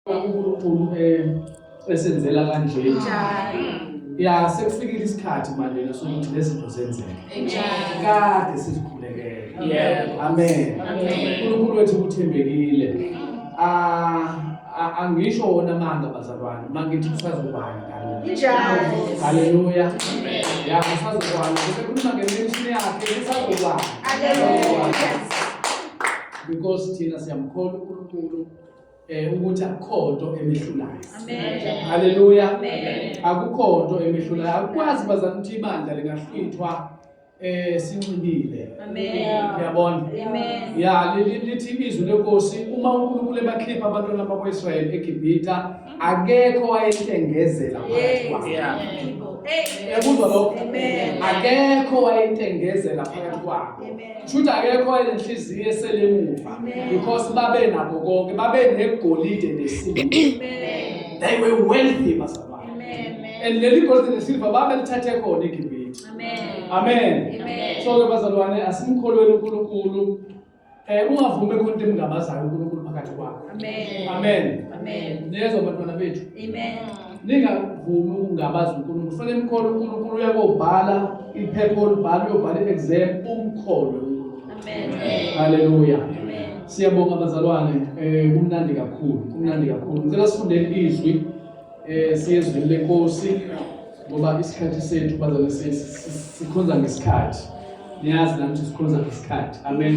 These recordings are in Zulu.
uNkulunkulu eh, esenzela kanje ya sekufikile isikhathi manje sokuthi lezinto zenzeke kade sizikhulekele amen uNkulunkulu wethu uthembekile ah, angisho wona amanga bazalwane mangithi kusazobani haleluya ya kusazobani kusekhuluma ngemenshini yakhe kusazobani because thina siyamkholwa uNkulunkulu eh ukuthi akukho nto emehlulayo amen haleluya amen akukho nto emehlulayo akwazi bazana ukuthi ibandla lingahlwithwa eh sinxibile amen uyabona amen ya lithi izwi lenkosi uma uNkulunkulu ebakhipha abantwana bakwaIsrael eGibhita akekho wayehlengezela phakathi kwabo ekuzwa lokho akekho wayentengezela phakathi kwabo Shuthi akekho enhliziyo eselemuva because babe nabo konke babe negolide nesilver. Amen. They were wealthy bazalwane. Amen. And leli golide nesilver babe lithathe khona eGibhithe. Amen. Amen. Amen. So ke bazalwane asimkholweni uNkulunkulu eh ungavumi khona into emngabazayo uNkulunkulu phakathi kwakho. Amen. Amen. Amen. Nezwa bantwana bethu. Amen. ningavumi ukungabaza unkulunkulu funa imkholo unkulunkulu uyakobhala iphepha olubhala uyobhala i-exam umkholwe haleluya siyabonga abazalwane um kumnandi kakhulu kumnandi kakhulu ngicela sifundeni izwi um siyezwini lenkosi ngoba isikhathi sethu bazane sikhonza ngesikhathi niyazi nami ukuthi sikhonza ngesikhathi amen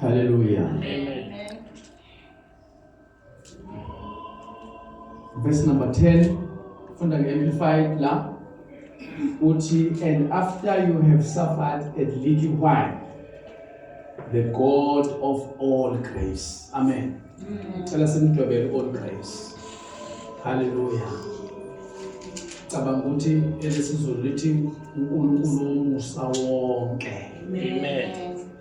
Hallelujah. Amen. Verse number 10 from the Amplified la uthi and after you have suffered a little while the God of all grace. Amen. Cela simdwebele all grace. Hallelujah. Cabanga ukuthi elesizulu lithi uNkulunkulu umusa wonke. Amen.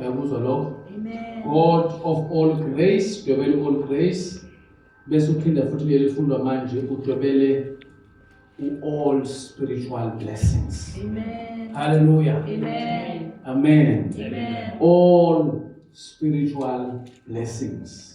uyakuzwa lokho god of all grace udwebele all grace bese uphinda futhi leli fundwa manje udwebele u-all spiritual blessings Amen. hallelujah Amen. Amen. Amen. all spiritual blessings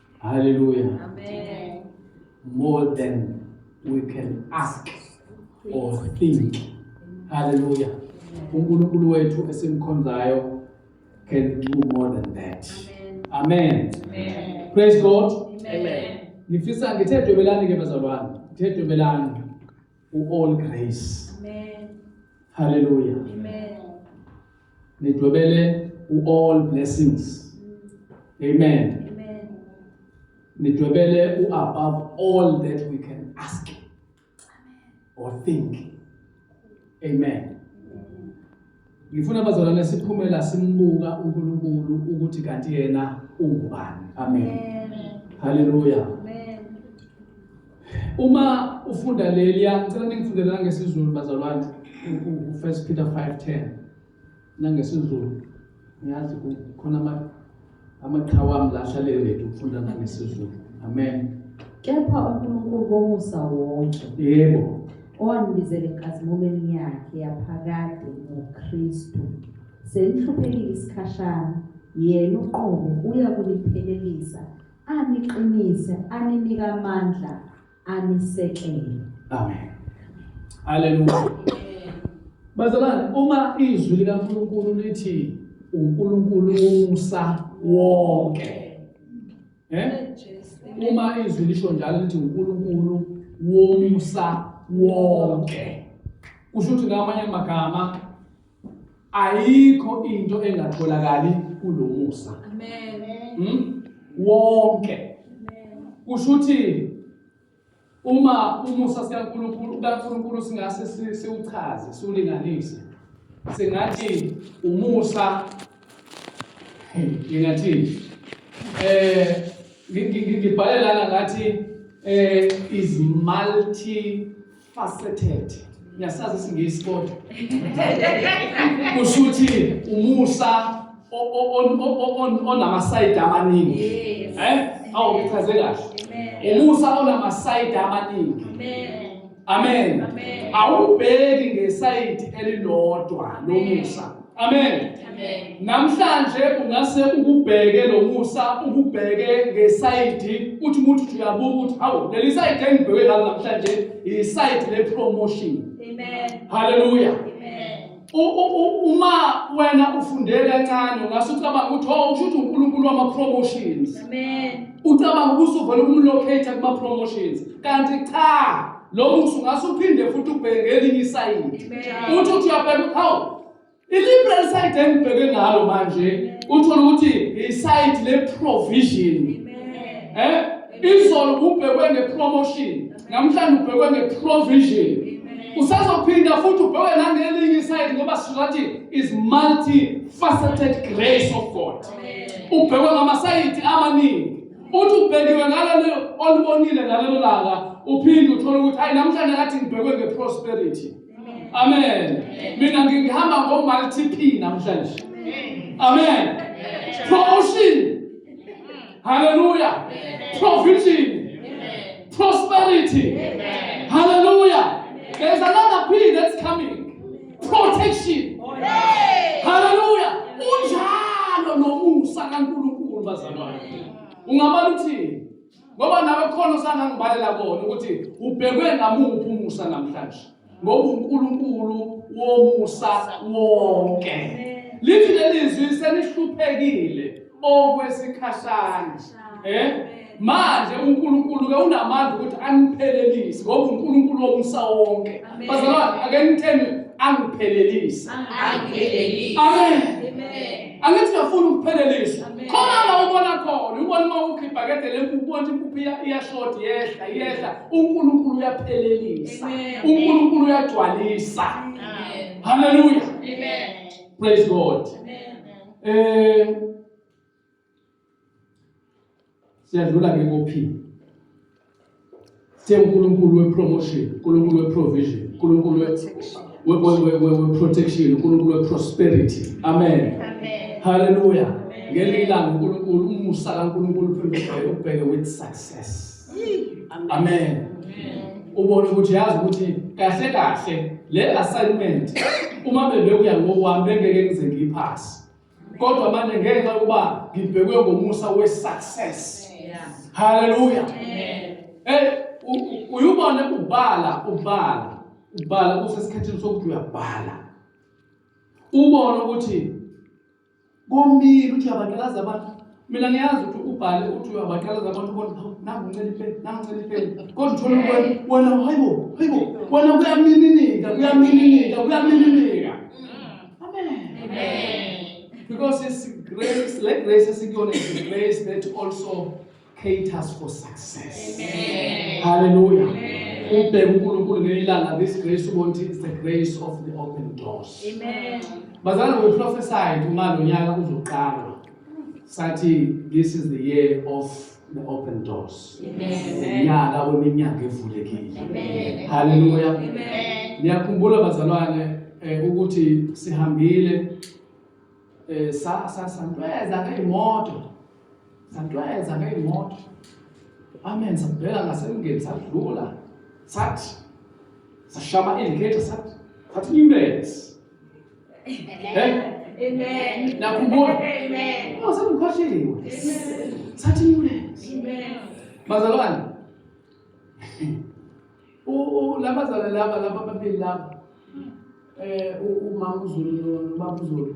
Hallelujah. Amen. More than we can ask or think. Hallelujah. UNkulunkulu wethu esimkhonzayo can do more than that. Amen. Amen. Praise God. Amen. Ngifisa ngithe dwebelani ke bazalwane. Ngithe dwebelani. uall grace amen haleluya amen nidwebele uall blessings mm. amen nidwebele u-above all that we can ask or think amen Ngifuna abazalwane siphumela simbuka uNkulunkulu ukuthi kanti yena ungubani. Amen. Haleluya. Uma ufunda leli ngicela ningifundele ngesiZulu bazalwane uFirst Peter 5:10 nangesiZulu. Ngiyazi khona ama Amaqhawe ami la ahlale ready ukufunda nangesizulu. Amen. Kepha uNkulunkulu womusa wonke. Yebo. Owangibizela enkazimulweni yakhe yaphakade ngoKristu. Senihluphekile isikhashana, yena uqobo uya kuniphelelisa, aniqinise, aninika amandla anisekele. Amen. Hallelujah. Bazalwane, uma izwi likaNkulunkulu lithi uNkulunkulu umusa wonke. Eh? Uma izwi lisho njalo lithi uNkulunkulu womusa wonke. Kusho ukuthi ngamanye amagama ayikho into engatholakali kulomusa amen hmm? wonke kusho ukuthi uma umusa sikaNkulunkulu kaNkulunkulu singase siwuchaze siwulinganise singathi umusa ngingathi eh ngibhale lana ngathi eh is multi faceted ngiyasazi isingisi kodwa kusho ukuthi umusa onamasayidi amaningi eh awu ngichaze kahle umusa onamasayidi amaningi amen awubheki ngesayidi elilodwa lomusa Amen. Amen. Namhlanje ungase ukubheke lomusa ukubheke ngesayidi uthi umuntu uyabuka ukuthi hawu leli sayidi engibheke ngalo namhlanje isayidi le promotion. Amen. Hallelujah. Amen. Uma wena ufundele kancane ungase ucabanga ukuthi hawu oh, usho ukuthi uNkulunkulu wama promotions. Amen. Ucabanga ukuthi uvela ukumlocate kuma promotions kanti cha Lo musa ungase uphinde futhi ubheke ngelinye isayidi. Uthi uthi uyabheka ukuthi hawu i-liberal side engibheke ngalo manje uthole ukuthi isayidi le-provision. Eh? Izolo ubhekwe nge-promotion, namhlanje ubhekwe nge-provision. Usazophinda futhi ubheke nangelinye isayidi ngoba sizothi is multifaceted grace of God. Ubhekwe ngamasayidi amaningi. uthi ubhekiwe ngalelo olubonile ngalelo langa uphinde uthole ukuthi hayi namhlanje kathi ngibhekwe nge-prosperity amen mina ngihamba ngo-multiple namhlanje amen promotion haleluya provision prosperity haleluya there's another period that's coming protection haleluya unjalo nomusa kaNkulunkulu bazalwane ungabala uthini ngoba nawe khona usangangibalela kona ukuthi ubhekwe ngamuphi umusa namhlanje ngoba uNkulunkulu womusa wonke lithi lelizwi senihluphekile okwesikhashana eh manje uNkulunkulu ke unamandla ukuthi aniphelelise ngoba uNkulunkulu womsa wonke bazalwane ake ngitheni angiphelelise angiphelelise amen amen angithi ngafuna ukupheleliswa khona la ubona khona ubona uma ukhe ibhakede lempuphu ubona impuphu iyashodi yehla yehla uNkulunkulu uyaphelelisa uNkulunkulu uyagcwalisa haleluya amen praise god amen Eh siyadlula ke kophini siyunkulunkulu wepromotion unkulunkulu weprovision unkulunkulu weprotection unkulunkulu weprosperity amen haleluya ngelinye ilanga unkulunkulu umusa kankulunkulu uphindisele ubheke with success amen ubone ukuthi yazi ukuthi kahle kahle le assignment uma bebekuya ngokwami bengeke ngize ngiyiphasi kodwa manje ngenxa yokuba ngibhekwe ngomusa we-success haleluya ey uyubone ubala ubala ubala kusesikhathini sokuthi uyabhala ubone ukuthi Komile uthi uyabaqalaza abantu. Mina ngiyazi ukuthi ubhale uthi uyabaqalaza abantu bona nangu ncelifeni, nangu ncelifeni. Kodwa uthola ukuthi wena hayibo, hayibo, wena kuyamininika, kuyamininika, kuyamininika. Amen. Amen. Because it's grace, like grace is the grace that also caters for success amen hallelujah ubheke uNkulunkulu ngelanga this grace ubonti is the grace of the open doors amen bazana ngokuprofesayo uma lo nyaka uzoqala sathi this is the year of the open doors unyaka weminyango evulekile haleluya niyakhumbula bazalwane eh, ukuthi sihambile eh, sasantweza ngeyimoto Satweza ngey'moto. Amen. Sabheka ngasemngeni sadlula. Sathi sashama indicator sathi sathi imbezi. Hey. Amen. Nakubona. Amen. Oh, sengikhohliwe. Amen. Sathi imbezi. Amen. Bazalwane. U laba zala laba laba babili laba. Eh umama uZulu no baba uZulu.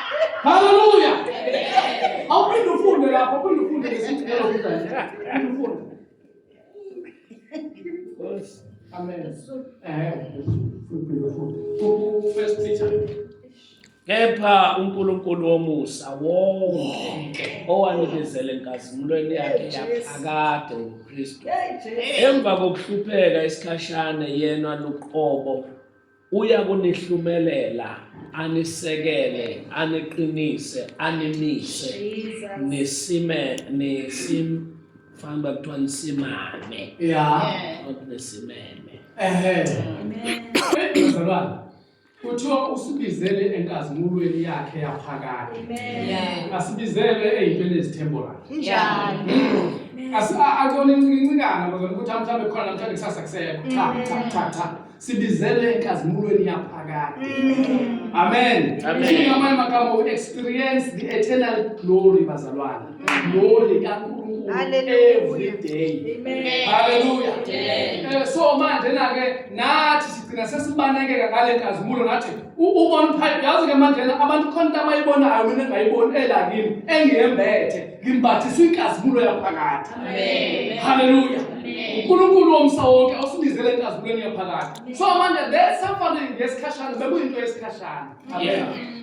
Haleluya. Awuphinde ufunde lapho, uphinde ufunde lesithi ngeke ufunde. Ufunde. Amen. Eh. First Peter kepha uNkulunkulu womusa wonke owanikezele enkazimulweni yakhe yaphakade ngoKristu emva kokuhlupheka isikhashana yena luqobo Uya kunihlumelela, anisekele, aniqinise, animise, nisime, nisim, fanele uba kuthiwa nisimame, ya not nisimeme. ehe mzalwane kuthiwa usibizele enkazimulweni yakhe yaphakade Amen. asibizele eyintweni ezithemborayo Kunjalo. akona incikincikana bazona ukuthi mhlawumbe khona namhlanje kusasa kusekho cha cha cha cha sibizele enkazimulweni yaphakade mm. amen ngamanye amagama we experience the eternal glory bazalwana mm. glory kaNkulunkulu every day haleluya eh, so manje na ke nathi sigcina sesibanekeka ngale nkazimulo ngathi ubona phakathi yazi ke manje abantu khona abayibonayo mina ngayiboni elakini engiyembethe ngimbathiswe inkazimulo yaphakathi haleluya unkulunkulu womsa wonke osibizele enkazimulweni yaphakathi so manje le suffering yesikhashana bekuyinto yesikhashana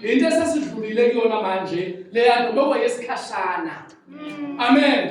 into esesidlulile kuyona manje leya nto bekuyesikhashana amen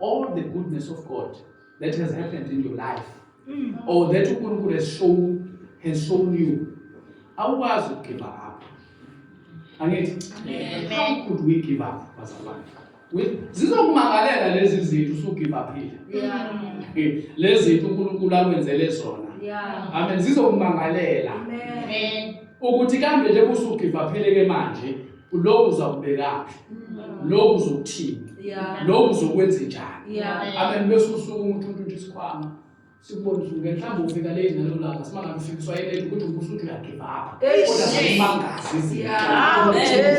all the goodness of God that has happened in your life mm. or that uNkulunkulu has shown has shown you awukwazi ukugive up angithi how could we give up bazalwane zizokumakalela lezi zinto usugive uphile eh, lezi zinto uNkulunkulu akwenzele zona amen zizokumangalela ukuthi kambe nje kusugive uphile ke manje lokhu uzakubekaphi lokhu uzokuthini lokhu uzokwenza njani amen bese usuku umuntu untutha isikhwama sikubona usuke mhlawumbe ufika le nalo langa simangabe ufikiswa yilento ukuthi umbuso uthi uyagiva apha kodwa simangazi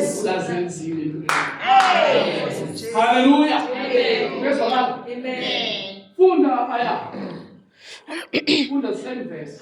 izintoazenzile haleluya bezwa lapho funda lapha ya funda same verse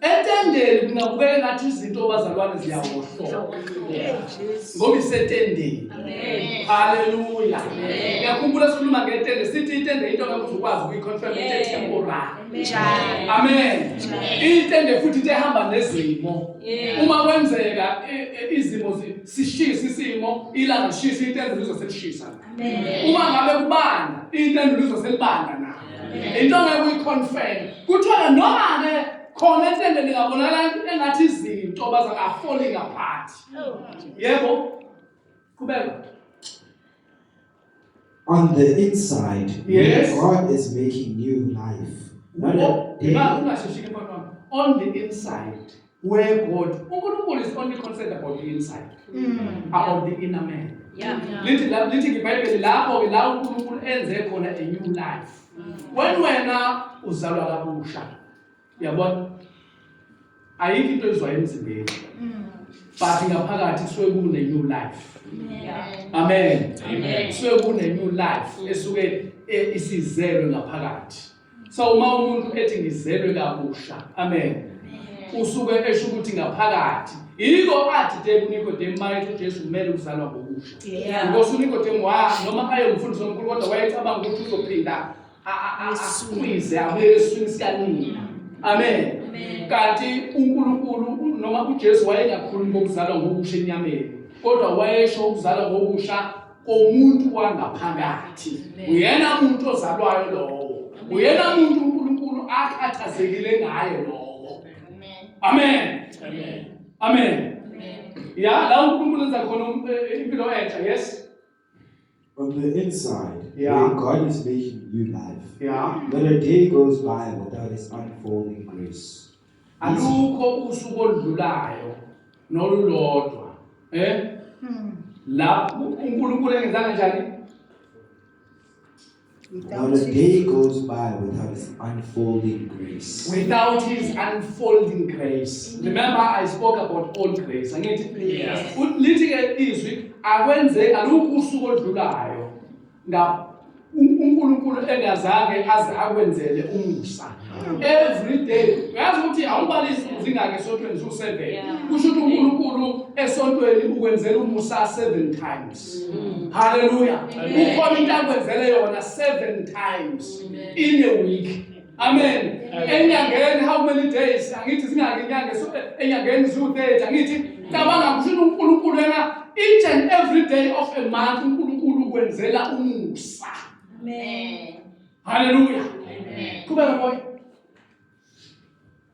Etendeni kungabukeka ngathi izinto bazalwane ziyawohloka ngoba isetendeni. Haleluya. Ngiyakhumbula sikhuluma ngetende sithi itende into ngeke ukwazi ukuyicontrol into temporary. Amen. Itende futhi into ehamba nezimo. Uma kwenzeka e, e, izimo sishisa isimo ilanga lishisa itende lizoselishisa. uma ngabe kubanda impendulo izoselibanda na into ngeke uyiconfirm kuthiwa noma ke khona etende lingabonakala engathi izinto bazangafoli ngaphathi yebo qhubeka On the inside, yes. God is making new life. Not a day. On the inside. where God uNkulunkulu is only concerned about the inside mm. about the inner man yeah. lithi la lithi ngebhayibheli lapho ke la uNkulunkulu enze khona a new life mm. when wena uzalwa kabusha yabona ayikho into ezwayo emzimbeni mm. but ngaphakathi kusuke kune new life amen kusuke kune new life esuke e, isizelwe ngaphakathi so uma umuntu ethi ngizelwe kabusha amen usuke esho ukuthi ngaphakathi yiko athi de kunikodemu mayethi ujesu kumele uzalwa ngokusha ngokuthi unikodemu wa noma ayemfundisi omkhulu kodwa wayecabanga ukuthi uzophinda asukwize abuyele eswini sikanina amen kanti unkulunkulu noma ujesu wayengakhulumi ngokuzalwa ngokusha enyameni kodwa wayesho ukuzalwa ngokusha komuntu wangaphakathi uyena muntu ozalwayo lowo uyena muntu uNkulunkulu akhathazekile ngaye lowo amen amen amen ya la uNkulunkulu enza khona um, eh, impilo entsha yes on the inside yeah. where God is making new life yeah not a day goes by without his unfolding grace alukho usuku oludlulayo nolulodwa eh hmm. la uNkulunkulu engenzanga njani Not a day goes by without His unfolding grace. Without His unfolding grace. Remember, I spoke about all grace. Angithi? Yes. Lithi ke izwi akwenze alukho usuku oludlulayo Now, uNkulunkulu engazange aze akwenzele umusa every day uyazi ukuthi awubalisi uzingake esontweni ziwu-seven kusho ukuthi unkulunkulu esontweni ukwenzela umusa seven times mm. halleluya ukhona into akwenzele yona seven times in a week Amen. Enyangeni how many days? Angithi zingaki inyanga so enyangeni ziwu-30 angithi cabanga kusho uNkulunkulu yena each and every day of a month uNkulunkulu ukwenzela umusa. Amen. Hallelujah. Amen. Kuba moya.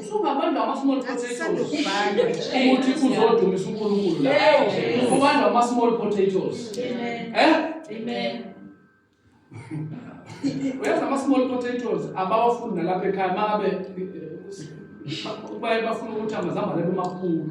Usungabantu ama-small potatoes ukuthi uzodumisa uNkulunkulu la. Ubantu ama-small potatoes. Eh? Amen. Uyazi ama-small potatoes abawafuni nalapha ekhaya makabe eh, eh, baye bafuna ukuthi amazambane bemakhulu.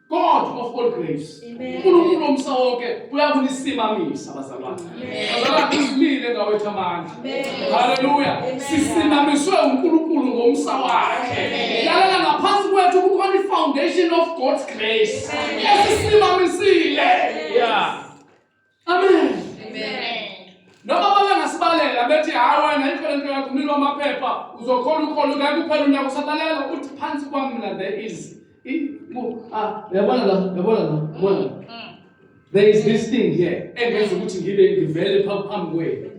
God of all grace. uNkulunkulu omsa wonke uyakunisimamisa bazalwane. Bazalwane simile ngawethu amandla. Haleluya. Sisimamiswe uNkulunkulu ngomsa wakhe. Lalela ngaphansi kwethu kukhona ifoundation of God's grace. Esisimamisile. Yeah. Amen. Amen. Noma babengasibalela bethi hayi wena yikho lento yakho umlilo wamaphepha uzokhona ukhona ngeke uphele unyaka usatalela uthi phansi kwami mina there is ah, yabona la yabona la yabona la mm. There is this thing here engenza ukuthi ngibe ngivele phambi kwenu.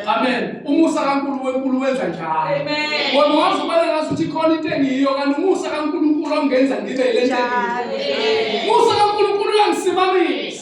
Amen. Umusa kaNkulunkulu wenkulu wenza njalo. Amen. Wena wazi ubale ngathi uthi khona into engiyiyo kanti umusa kaNkulunkulu ongenza ngibe le nto. Umusa kaNkulunkulu uyangisimanisa.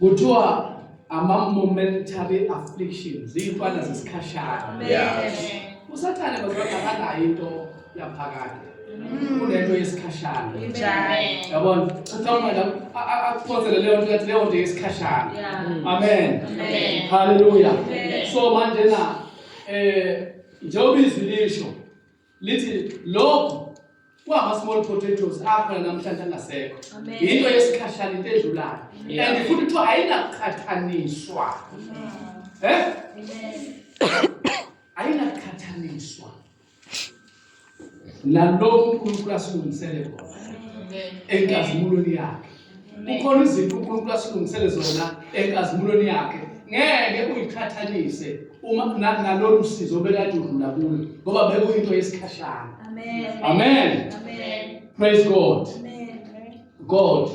kuthiwa ama-momentary afflictions iy'ntwana zesikhashana usathane bazakakanayo into yaphakade mm. kunento yesikhashana yabona uthawumela akuphonsele leyo nto yathi leyo nto yesikhashana amen halleluya so manje na um njengoba izwi lisho lithi lokho kwama-small potatoes akhona namhlanje angasekho yinto yesikhashana into edlulayo and futhi kuthiwa ayinaqhathaniswa um ayinaqhathaniswa nalokhu unkulunkulu asilungisele kona enkazimulweni yakhe kukhona izinto uNkulunkulu asilungisele zona enkazimulweni yakhe ngeke uyiqhathanise uma nalolu sizo bekade udlula kulo ngoba bekuyinto yesikhashana amen amen amen praise god amen god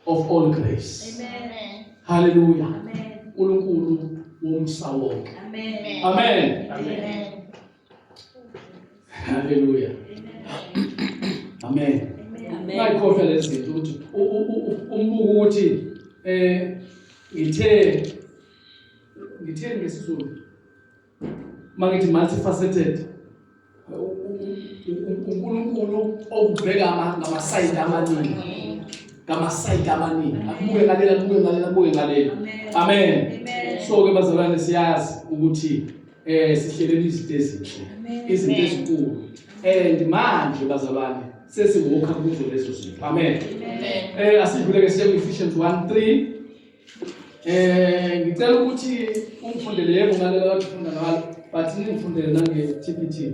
of all grace amen hallelujah amen uNkulunkulu womsa wonke amen amen amen Haleluya. Amen. Amen. Ngayikhohlwa lezi zinto ukuthi umbuko ukuthi eh ngithe ngithe ngesizulu mangithi multifaceted uNkulunkulu okubheka ngamasayidi amaningi ngamasayidi amaningi akubuke ngalela kubuke ngalela kubuke ngalela amen so ke bazalwane siyazi ukuthi eh sihlelele izinto ezinhle izinto ezinkulu and manje bazalwane sesiwokha kuzo lezo zinto amen eh asidlule ke siye Ephesians 1:3 eh ngicela ukuthi ungifundele yebo ngale lathifunda ngalo but ningifundele nange TPT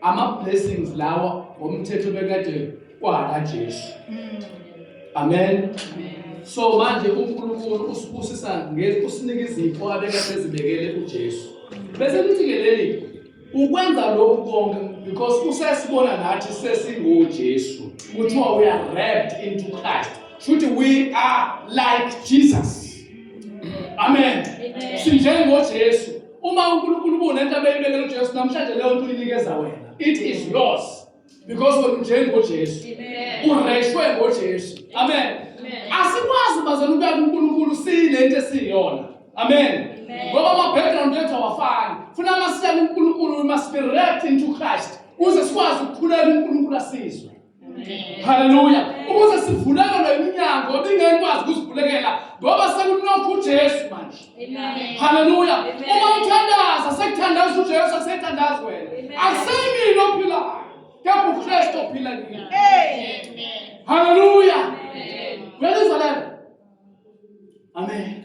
ama blessings lawa ngomthetho bekade kwaka Jesu mm. amen so manje uNkulunkulu usibusisa ngekusinika izipho abeka sezibekele uJesu bese lithi ke leli ukwenza lokhu konke because usesibona nathi sesingoJesu kuthiwa we are wrapped into Christ futhi we are like Jesus amen sinjengoJesu Uma uNkulunkulu kunento abeyibekela uJesu namhlanje leyo nto uyinikeza wena. It is yours because wena unjengoJesu. Ureshwe ngoJesu. Amen. Asikwazi bazana ukuya kuNkulunkulu sinento esiyona. Amen. Ngoba ama background ethu awafani. Funa masiyeke uNkulunkulu we must be wrapped into Christ. Uze sikwazi ukukhuleka uNkulunkulu asizwe. haleluya ukuze sivulelelwe iminyango ebingekwazi ukuzivulekela ngoba sekunokho ujesu manje haleluya uma uthandaza sekuthandaza ujesu asethandazi wena akuseyimini ophilayo kepha ukristu ophila kini haleluya uyalizwa lelo amen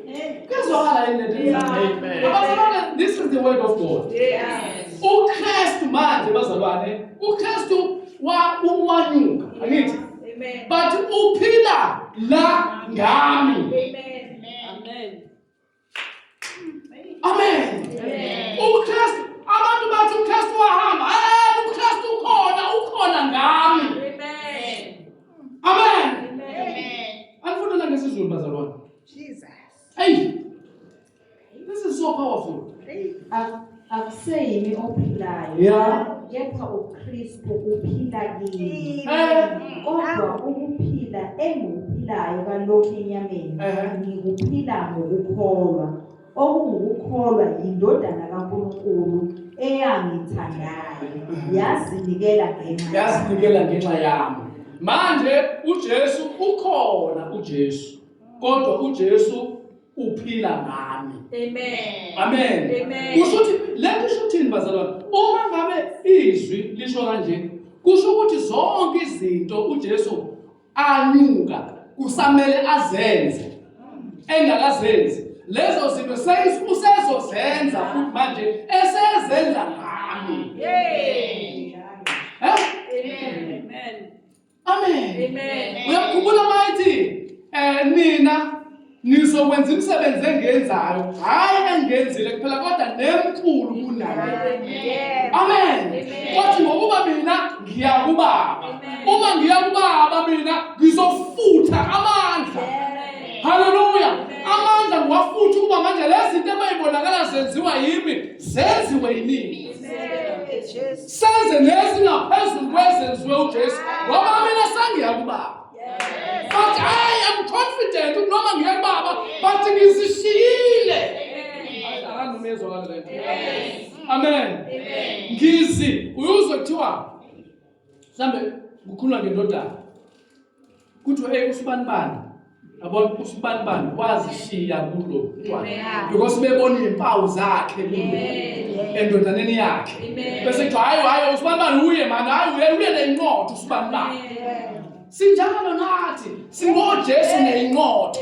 Kuyazwakala yini lento? Abazalwane, this is the word of God. UKristu manje bazalwane, uKristu wawanyuka, angithi? But uphila la ngami. Amen. Amen. Amen. UKristu abantu bathi uKristu wahamba. Eh, uKristu ukhona, ukhona ngami. Amen. Amen. Amen. Anifundela ngesiZulu bazalwane. Jesus. Hey. This is so powerful. Hey. Akuseyimi ophilayo. Yeah. Kepha uKristu uphila kimi. Eh. Kodwa ukuphila engikuphilayo kalokhu enyameni eh. ngikuphila ngokukholwa. Okungukukholwa yindodana kaNkulunkulu eyangithandayo eh. yazinikela ngenxa yazinikela ngenxa yami. Manje uJesu ukhona uJesu. kodwa uJesu uphila ngami amen amen amen kusho ukuthi lento isho ukuthini bazalwane uma ngabe izwi lisho kanje kusho ukuthi zonke izinto uJesu anyuka kusamele azenze engakazenzi lezo zinto usezozenza futhi manje esezenza ngami yey amen amen amen uyakhumbula mayithi um nina nizokwenza imisebenzi engenzayo hhayi engenzile kuphela kodwa nemkhulu kunaye amen kothi ngokuba mina ngiya kubaba uma ngiya kubaba mina ngizofutha amandla haleluya amandla ngiwafutha ukuba manje lezi zinto ebayibonakala zenziwa yimi zenziwe yini senze nezingaphezulu kwezenziwe uJesu ngoba mina sengiya kubaba but I am confident noma ngiya kubaba but ngizishiyile amen ngizi uyuzwe kuthiwa mhlawumbe kukhuluma ngendodana kuthiwa eyi usibanibani yabona usibanibani wazishiya kulo because bebonile impawu zakhe endodaneni yakhe bese kuthiwa hayi hayi usibanibani uye mani hayi uye uye nenqotho usibanibani sinjalo nathi singojesu nenqotho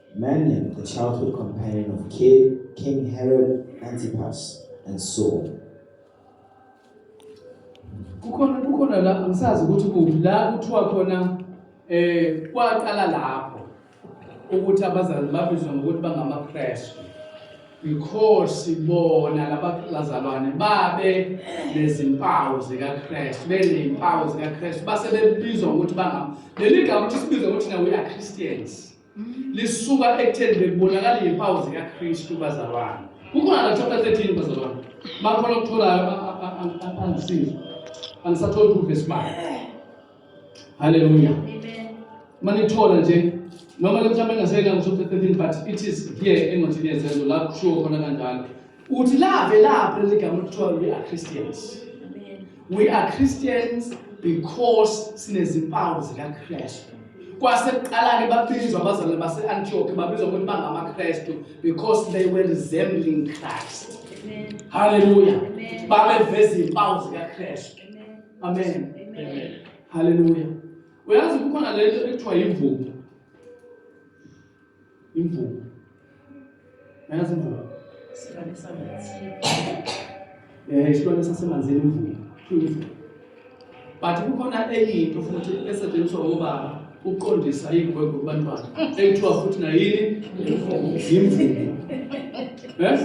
Manning, the childhood companion of King Herod Antipas, and Saul. kukhona kukhona la angisazi ukuthi kuphi la kuthiwa khona eh kwaqala lapho ukuthi abazali babizwa ngokuthi bangamaKristu because bona labazalwane babe nezimpawu zikaKristu benezimpawu zikaKristu base bebizwa ngokuthi bangama leli gama ukuthi sibizwa ukuthi na we are Christians lisuka ekutheni bekubonakala izimpawu zikaKristu bazalwane kukhona la chapter 13 bazalwane bakhona okutholayo angisiza angisatholi proof esimali haleluya manithola nje noma le mhlawumbe engaseyela ngo-chapter 13 but it is here engothini yezenzo la kushiwo khona kanjalo Uthi lave lapho leli gama kuthiwa we are Christians. We are Christians because sinezimpawu zikaKristu. Kwasekuqala-ke babizwa abazalwane base-Antioch babizwa ukuthi bangamaKristu because they were resembling Christ. Hallelujah. Babeveza izimpawu zikaKristu. Amen. Amen. Hallelujah. Uyazi kukhona lento ekuthiwa yimvubu. Imvubu. Nayazi imvubu. Silwane samanzini. Eh, isilwane sasemanzini imvubu. But kukhona enye into futhi esetshenziswa ngobaba ukuqondisa igwegwe kubantwana ekuthiwa futhi nayini yimvubu. Yes?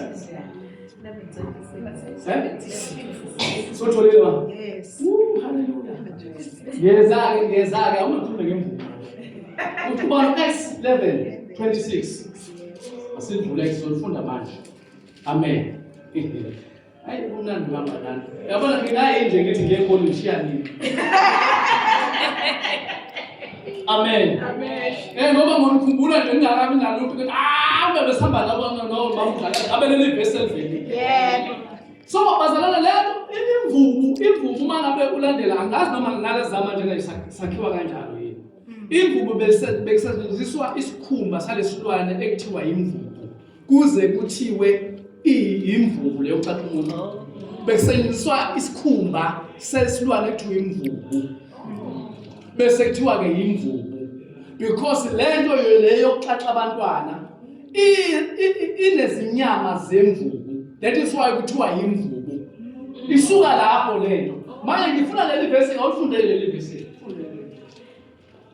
sotholewa ngeza-ke ngeza-ke awungakhulume ngemvumo uthi ubalo acts 11 26 asivule sizolifunda manje amen hayi kumnandi kanganani yabona nginaye nje ngithi ngiye ekolishiyani Amen. Amen. Eh ngoba ngikhumbula nje ngingakabi nalutho ukuthi ah ngabe sihamba labo no bamdlala abe leli verse eliveli. Yebo. So bazalana lento imvubu imvubu uma ngabe ulandela angazi noma nginale zama njena isakhiwa kanjalo yini. Hmm. Imvubu bekusebenziswa isikhumba salesilwane ekuthiwa imvubu. kuze kuthiwe iyimvubu leyo chatha umuntu bekusebenziswa isikhumba sesilwane ekuthiwa imvubu bese kuthiwa-ke yimvubu because le nto leyo yokuxaxa abantwana inezinyama zemvubu that is why kuthiwa yimvubu isuka lapho le nto manje ngifuna leli vesi awulifunde leli vesi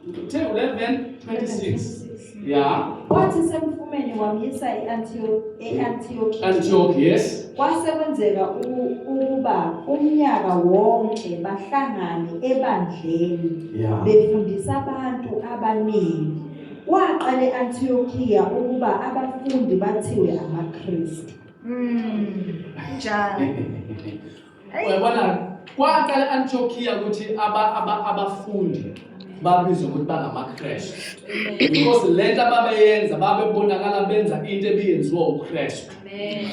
Uthe 11:26. Yeah. Wathi semfumeni wamyisa e-Antioch e-Antioch. Antioch, yes. Kwase kwenzeka u- ukuba umnyaka wonke bahlangane ebandleni Yeah. befundisa abantu abaningi. Waqala e-Antiochiya ukuba abafundi bathiwe amaKristu. Mm. Njalo. uyabona kwaqala antiokiya ukuthi abafundi babizwe ukuthi bangamakrestu because le nto ababeyenza babebonakala benza into ebiyenziwa ukrestu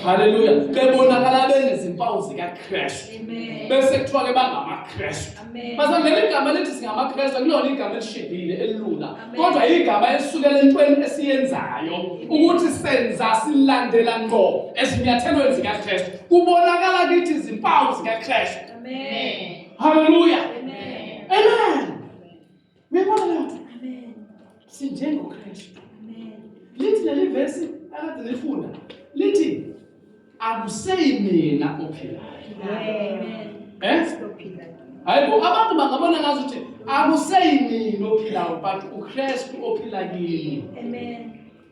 halleluya bebonakala benezimpawu zikakrestu bese kuthiwa ke bangamakrestu Masangena igama elithi singamaKristu akulona igama elishibhile elilula kodwa igama elisukela entweni esiyenzayo ukuthi senza silandela ngqo ezinyathelweni zikaKristu kubonakala kithi izimpawu zikaKristu. Amen. Hallelujah. Amen. Amen. Uyabona leyo nto? Amen. SinjengoKristu. Amen. Lithi leli verse akade lifunda lithi akuseyi mina ophilayo. Amen. Eh? Hayibo abantu bangabona ngazo ukuthi akuseyi mina ophilayo but uKristu ophila kimi. Amen.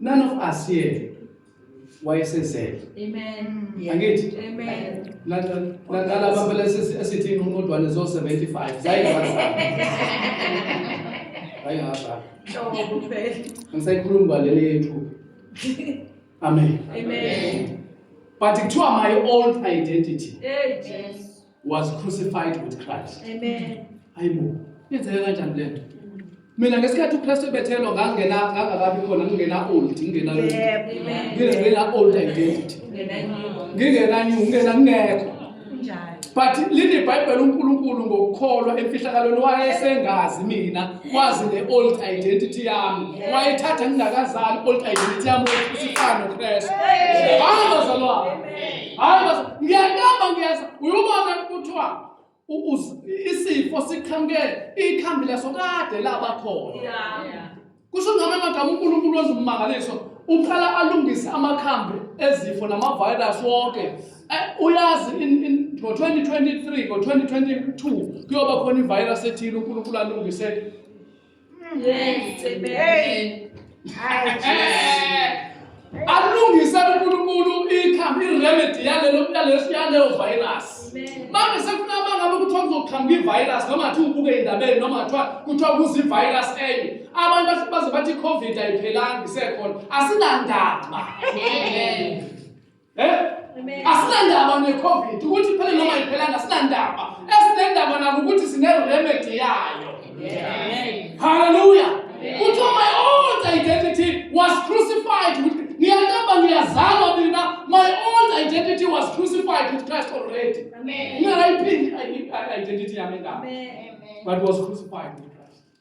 None of us here wayesezele. Amen. Angithi? Amen. Nalaba phela esithi inqumodwane zo 75 zayingazama. Ayingazama. Njobo phela. Ngisayikhuluma kwaleli yethu. Amen. Amen. But kuthiwa my old identity. Hey Jesus. was crucified with Christ. Amen. Hayibo, yenzeke kanjani lento? Mina ngesikhathi uKristu ebethelwa ngangena ngangakabi khona ngingena old, ngingena old. Ngingena old identity. Ngingena new, ngingena ngekho. But lini iBhayibheli uNkulunkulu ngokukholwa emfihlakalweni wayesengazi mina wazi le old identity yami. Wayethatha ngingakazali old identity yami usifana noKristu. Hamba zalwa. hayi base ngiyakamba ngiyeza uyubona kuthiwa isifo siqhamuke ikhambi laso kade laba khona kusho ngama magama uNkulunkulu wezimangaliso uqala alungise amakhambi ezifo namavirus wonke eh, uyazi ngo-2023 ngo-2022 kuyoba khona ivirus ethile uNkulunkulu alungise alungise uNkulunkulu ikhambi iremedy yalelo yaleso yaleyo virus manje sekufuna bangabe kuthiwa kuzoqhamuka ivirus noma ngathi ubuke indabeni noma ngathiwa kuthiwa kuze ivirus enye abantu baze bathi i-covid ayiphelanga isekhona asinandaba Eh? Asinandaba ne-COVID ukuthi phela noma iphelanga asinandaba. Esinendaba nako ukuthi sine-remedy yayo. Hallelujah. Kuthi my old identity was crucified with ngiyandaba ngiyazalwa mina my old identity was crucified with Christ already. Amen. Ngiyayiphi identity yami ngami. Amen. But was crucified with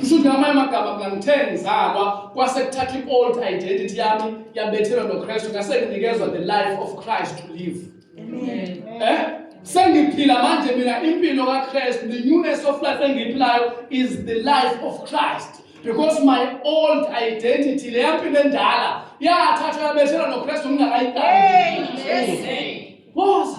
kusho ukuthi ngamanye amagama mna ngithe ngizalwa kwase kuthatha i-old identity yami yabethelwa nokristu ngase nginikezwa the life of christ to live eh sengiphila manje mina impilo kakristu the newness of life engiyiphilayo is the life of christ because my old identity leya mpilo endala yathathwa yabethelwa nokristu ngingakayiqali woza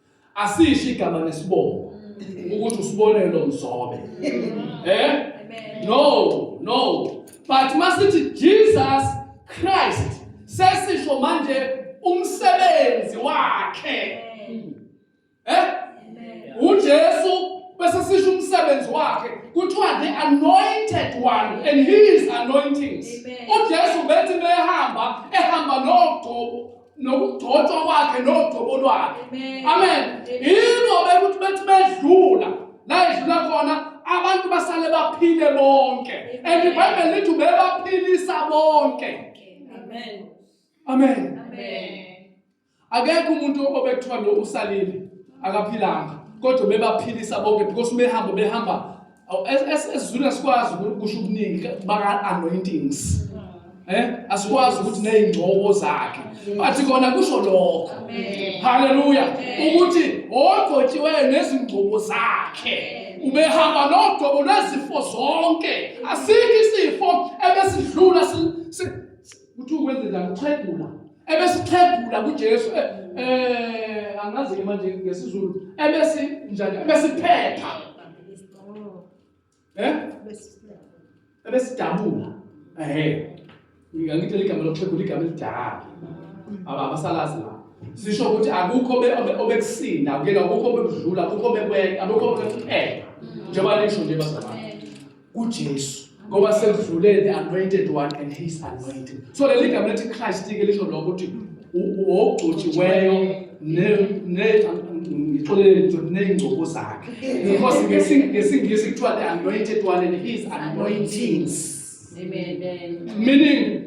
asisho igama nesibongo mm. ukuthi usibonelo mzobe mm. eh no no but masithi Jesus Christ sesisho manje umsebenzi wakhe mm. eh uJesu bese sisho umsebenzi wakhe kuthiwa the anointed one and his anointings uJesu bethi behamba ehamba nogcobo nokugcotshwa kwakhe nogcobo lwakhe amen yilo bekuthi bethi bedlula la edlula khona abantu basale baphile bonke and ibhayibheli lithi ubebaphilisa bonke amen amen akekho umuntu obekuthiwa lo usalile akaphilanga kodwa bebaphilisa bonke because behamba behamba esizwini asikwazi ukusho okuningi baka-anointings eh asikwazi ukuthi nezingcobo zakhe bathi kona kusho lokho haleluya ukuthi ogcotshiweyo nezingcobo zakhe ubehamba nogcobo lwezifo zonke asikho isifo ebesidlula Uthi ukwenzela kuxhegula. Ebesixhegula kuJesu eh, eh angazi ke manje ngesiZulu ebesi njani ebesiphepha. Eh? Ebesidabula. Ehhe. Ngangithe ligama lokuxhegula igama elidala. Aba abasalazi la. Sisho ukuthi akukho obekusinda, akukho obekudlula, akukho obekwenza, akukho obekuphepha. Njengoba lisho nje bazalwane. kuJesu ngoba sekudlule the anointed one and his anointing so leli gama lethi Christ ke lisho lokho ukuthi wogcotshiweyo ne ne ngixolele nje nezingcobo zakhe because ngesingisi kuthiwa the anointed one and his anointings amen meaning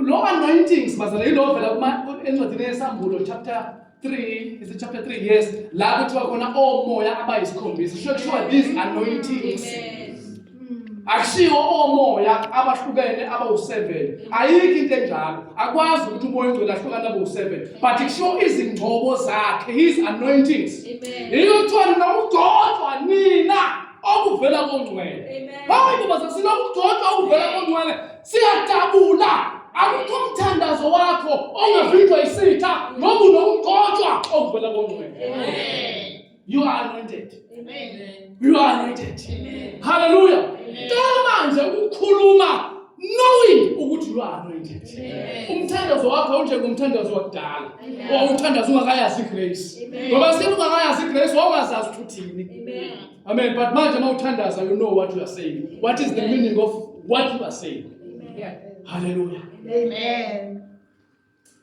lo anointings bazalelo vela kuma encwadini yesambulo chapter 3 is it chapter 3 yes la kuthiwa khona omoya abayisikhombisa kusho kuthiwa these anointings akushiwo omoya abahlukene abawu-7 ayikho into enjalo akwazi ukuthi umoya ongcwele ahlukane abawu-7 but kushiwo izingcobo zakhe his anointings yiyo kuthiwa nina ugcotshwa nina okuvela kongcwele hayi ngoba sesilokugcotshwa okuvela kongcwele siyajabula akukho umthandazo wakho ongavinjwa isitha ngoba unomgotshwa okuvela kongcwele you are anointed you are anointed haleluya cela manje ukukhuluma knowing ukuthi you are anointed umthandazo wakho unjengomthandazo wakudala wawuthandaza ungakayazi igrace ngoba sele ungakayazi igrace wawungazazi ukuthi uthini Amen. But manje uma uthandaza you know what you are saying. What is the meaning of what you are saying? Hallelujah. Amen.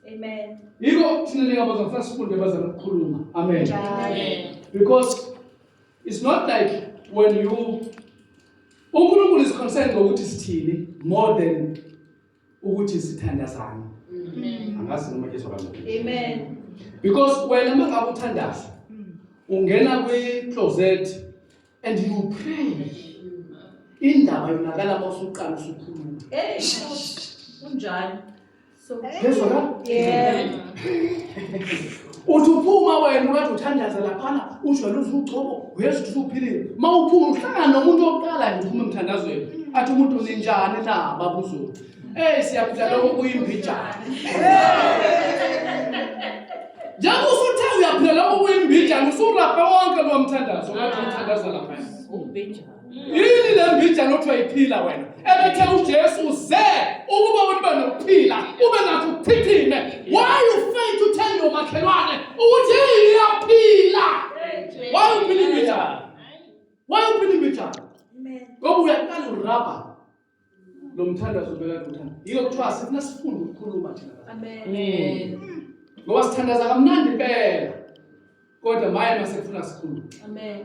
Amen. Yiko thina ningabazwa ngifuna sifunde bazama ukukhuluma. Amen. Amen. Because it's not like when you uNkulunkulu is concerned ngokuthi sithini more than ukuthi sithandazane angazi noma kezwa kancane amen because wena uma ngabe uthandaza ungena kwi-closet and you pray indaba yonakala mawusuqala usukhuluma hey kunjani so kezwa ka yeah uthi uphuma wena ukade uthandaza laphana ujwayele uzugcobo uyezwa ukuthi uphilile uma uphuma uhlangana nomuntu wokuqala nje uphuma emthandazweni athi umuntu ninjani na babuzulu eyi siyaphila lokho kuyimbijana njengoba usuthe uyaphila lokho kuyimbijana usurabhe wonke lowo mthandazo okade umthandaza laphana yini le mbijana othi wayiphila wena ebethe ujesu ze ukuba ulibe nokuphila ube nakho ukuchithime why you fail to tell your makhelwane ukuthi yini iyaphila why you believe it why you believe it ngoba uyaqala urabha lo mthandazo bekade uthanda yiyo kuthiwa sifuna sifunde ukukhuluma thina amen ngoba sithandaza kamnandi impela kodwa maye masekufuna sikhulume amen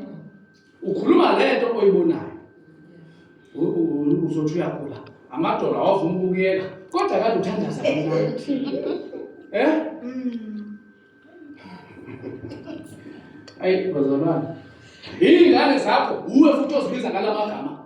ukhuluma le nto oyibonayo uzothi uyagula amadolo awavuma ukuyeka kodwa kade uthandaza kamnandi eh mm. ayi bazalwane yingane zakho uwe futhi ozibiza ngalamagama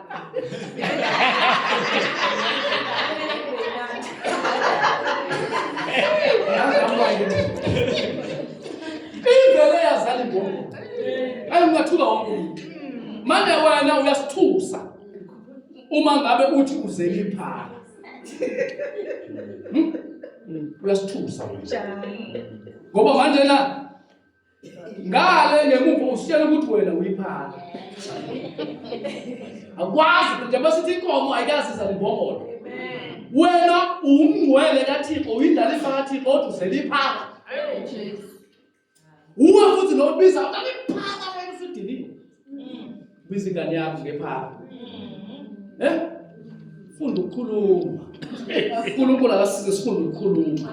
ivele yazali ngoku ayi ungathuka wonke umuntu manje wena uyasithusa uma ngabe uthi uzele iphala uyasithusa ngoba manje na ngale ngemuva usitshela ukuthi wena uyiphaka akwazi ukuthi njengoba sithi inkomo ayikazi izalimbongolo wena uwumngcwele kathixo uyindlalifa kathixo kodwa uzeliphaka uwe futhi nobiza utaliphaka wena usidiniwe biza ingane yakho ngephara eh funda ukukhuluma uNkulunkulu akasize sifunde ukukhuluma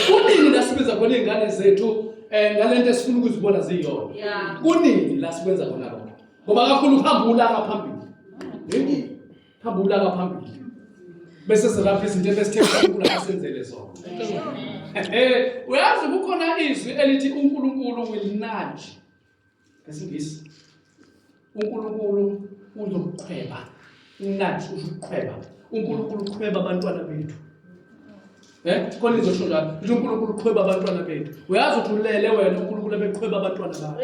kunini la sibiza khona izingane zethu eh ngalento esifuna ukuzibona ziyona kunini la sikwenza khona lokho ngoba kakhulu uhamba ulaka phambili yini hamba ulaka phambili bese silapha izinto ebesithe uNkulunkulu asenzele zona eh uyazi kukhona izwi elithi uNkulunkulu will nudge ngesingisi unkulunkulu uzokuqhweba nathi uzokuqhweba unkulunkulu uqhweba abantwana bethu um khona izosho njalo ukuthi unkulunkulu uqhweba abantwana bethu uyazi ukuthi ulele wena unkulunkulu ebeqhweba abantwana bakho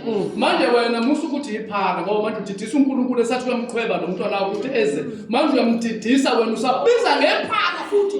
mm. manje wena musa ukuthi yiphaka ngoba manje udidisa unkulunkulu esathi uyamqhweba lo mntwana wakho ukuthi eze manje uyamdidisa wena usabiza ngephaka futhi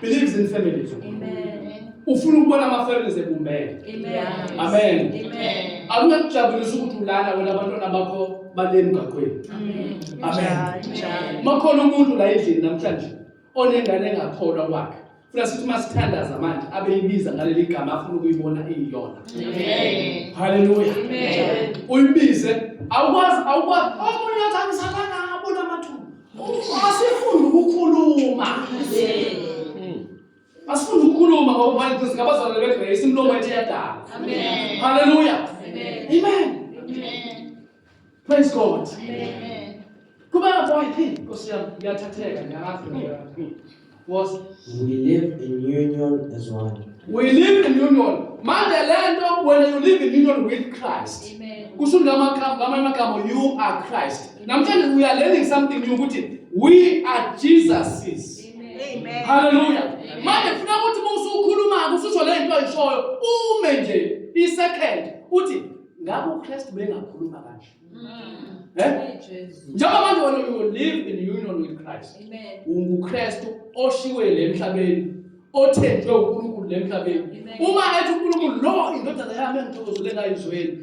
believes in families ufuna ukubona ama-families ebumbene amen akungakujabulisa ukuthi ulala wena abantwana bakho bale mgaqweni amen makhona umuntu la endlini namhlanje onengane engakholwa kwakhe funa sithi uma sithandaza manje abeyibiza ngaleli gama afuna ukuyibona iyiyona haleluya uyibize awukwazi awukwazi omunye athi angisalanga Asifuni ukukhuluma. Asifuni ukukhuluma ngoba manje singabazalwane beGrace imlomo yethu iyadala. Amen. Hallelujah. Amen. Amen. Amen. Praise God. Amen. Kuba boy phi Nkosi yami ngiyathatheka ngiyalahlwa. was we live in union as one we live in union manje le nto when you live in union with christ kusho ngamanye amagama you are christ namhlanje we are learning something new ukuthi we are jesus's Amen. haleluya manje funa ukuthi uma usukhuluma-ke ususho le nto oyishoyo ume nje i-second uthi ngabe ukristu bengakhuluma kanje Eh? Njengoba manje wena you live in union with Christ. Amen. UnguKristu oshiwe le emhlabeni, othenjwe uNkulunkulu le emhlabeni. Uma ethi uNkulunkulu lo indodana yami engithokozele ngayo izweni,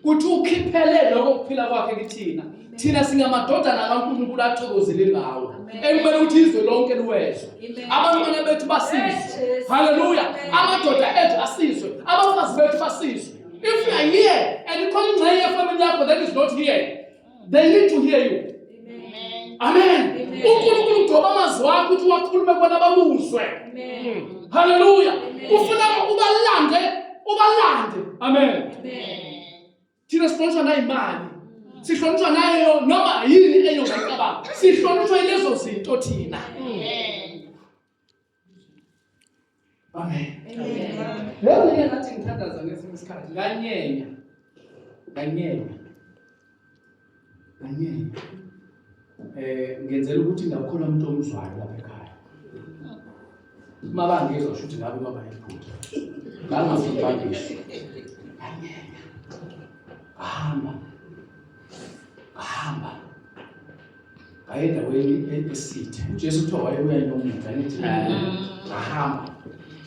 kuthi ukhiphele lokho kuphila kwakhe kithina. Thina singamadodana kaNkulunkulu athokozele ngawo. Ekumele ukuthi izwe lonke liwezwe. Abantwana bethu basizwe. Haleluya. Amadoda ethu asizwe. Abafazi bethu basizwe. If you are here and you call my family yako that is not here, they need to hear you. Amen. uNkulunkulu ugcoba amazwi akho ukuthi wakhulume bona babuzwe. Hallelujah. Ufuna ubalande, ubalande. Amen. Thina sihlonishwa nayo imali. Sihlonishwa nayo noma yini eyongacabanga. Sihlonishwa lezo zinto thina. Amen. Lezi ke ngathi ngithandaza ngesinye isikhathi nganyenya nganyenya nganyenya eh ngenzela ukuthi ngakhona umuntu omzwayo lapha ekhaya uma bangizwa sho ukuthi ngabe baba yiphutha ngangazibhangisi nganyenya ahamba ahamba wayendaweni esithe uJesu kuthiwa wayebuya nomuda nithi ngahamba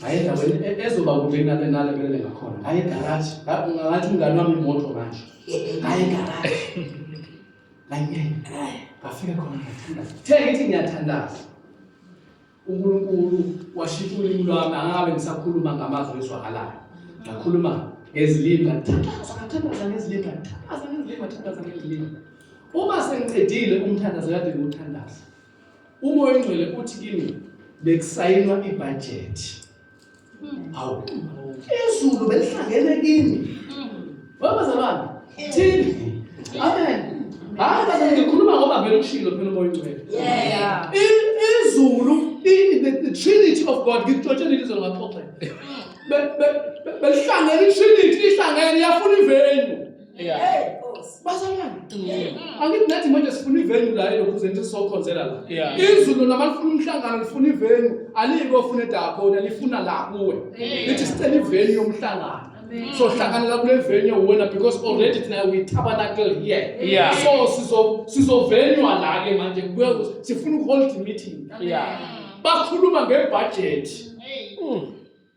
wayendaweni ezoba kude kunale nale belele ngakhona ngayegaraji ngathi umngane wami imoto manje ngayegaraji nganyenya ngafika khona ngathandaza the ngithi ngiyathandaza uNkulunkulu washintsha ulimi lwami angabe ngisakhuluma ngamazwi ezwakalayo ngakhuluma ngezilimi ngathandaza ngathandaza ngezilimi ngathandaza ngezilimi ngathandaza ngezilimi uma sengiqedile umthandazo kade ngiwuthandaza umoya ongcwele uthi kimi bekusayinwa ibhajethi awu izulu belihlangene kini babazalwane thini amen hayi baze ngikhuluma ngoba vele ushilo phela umoya ongcwele izulu the trinity of god ngikuxotshela ilizwe ngaxoxela belihlangene itrinity ihlangene yafuna ivenue bazalwane mm. angithi nathi manje sifuna ivenu la elokhuzeni ukuthi sizokhonzela la izulu lona malifuna umhlangano lifuna ivenu aliyike ofuna edakona lifuna la kuwe lithi sicela ivenu yomhlangano so hlanganela kule venue wena because already thina we tabernacle here yeah. so sizo sizovenywa la ke manje sifuna ukuhold meeting yeah. bakhuluma ngebudget mm.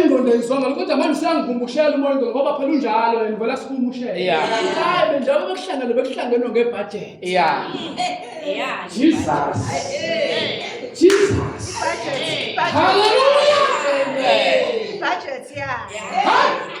ingqondo ayizwanga kodwa manje siyangivumbushela umoya ingqondo ngoba phela unjalo and vela sikumushela Yeah. hayi benjalo bekuhlangene bekuhlangenwe ngebhajethi Yeah. Yeah. jesus jesus hallelujah Budget, yeah.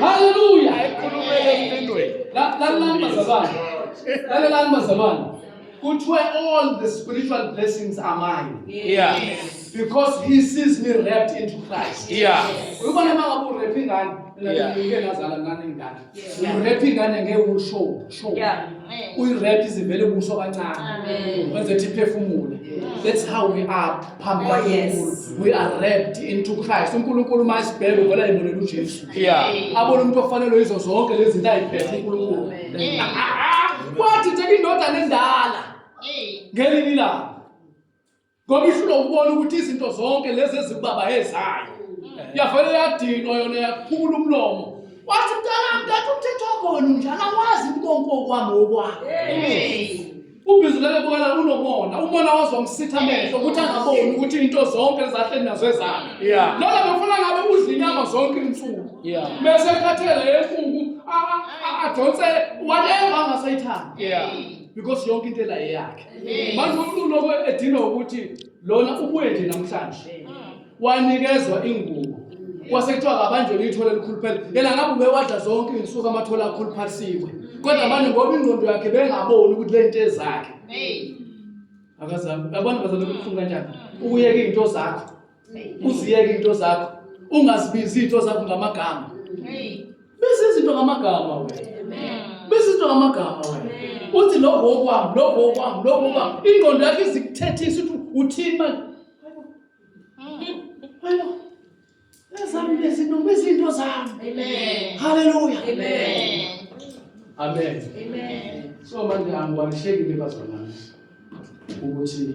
Haleluya. Lalelani bazalwane. Lalelani bazalwane. Kuthiwe all the spiritual blessings are mine. Yeah. Because he sees me wrapped into Christ. Yeah. Uyibona makabu wrapping ngani? Ngeke nazala ngani ngani. urep ingane ngeke usho sho uyirep izivele ubuso kancane wenze ukuthi iphefumule that's how we are phambi oh, kaNkulunkulu we are wrapped into Christ uNkulunkulu uma esibheka uvela yibonela uJesu abona umuntu ofanelwe yizo zonke lezi zinto ayiphethe uNkulunkulu kwathi nje indoda nendala ngelinye ilanga ngoba ihlulwa ukubona ukuthi izinto zonke lezi ezikubaba ezayo yavele yadinwa yona yaphumula umlomo wathi mntanami kanti umthetho wakhona unjalo akwazi konke okwami okwakho ubhizulele bukala unomona umona wazomsitha amehlo ukuthi angaboni ukuthi into zonke ezahleni nazo ezakhe lona befuna ngabe udla inyama zonke insuku bese ekhathele yenkuku adonse whatever angasayithandi because yonke into elayeyakhe manje umlungu lokho edinwa ukuthi lona ubuye nje namhlanje wanikezwa ingubo kwase kuthiwa kabanjwe lithole elikhulu phela yena ngabe ubewadla zonke iy'nsuku amathola akhuluphalisiwe kodwa manje ngoba ingqondo yakhe bengaboni ukuthi le nto ezakhe akazami yabona bazalwa kubuhlungu kanjani ukuyeka iy'nto zakho uziyeke into zakho ungazibizi into zakho ngamagama bese izinto ngamagama wena bese izinto ngamagama wena uthi lokho okwami lokho okwami lokho okwami ingqondo yakho izikuthethisa ukuthi uthini manje hayo ezami lezinto bezinto zami amen haleluya amen amen amen so manje angiwalishekile bazalwane ukuthi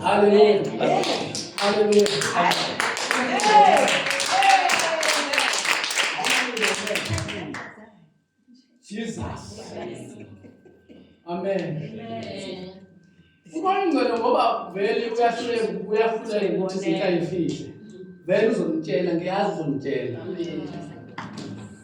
Hallelujah. Hallelujah. Jesus. Amen. Amen. Ubani ngcwele ngoba vele uyahluleka uyahluleka ukuthi sithayifihle. Vele uzomtshela ngiyazi uzomtshela.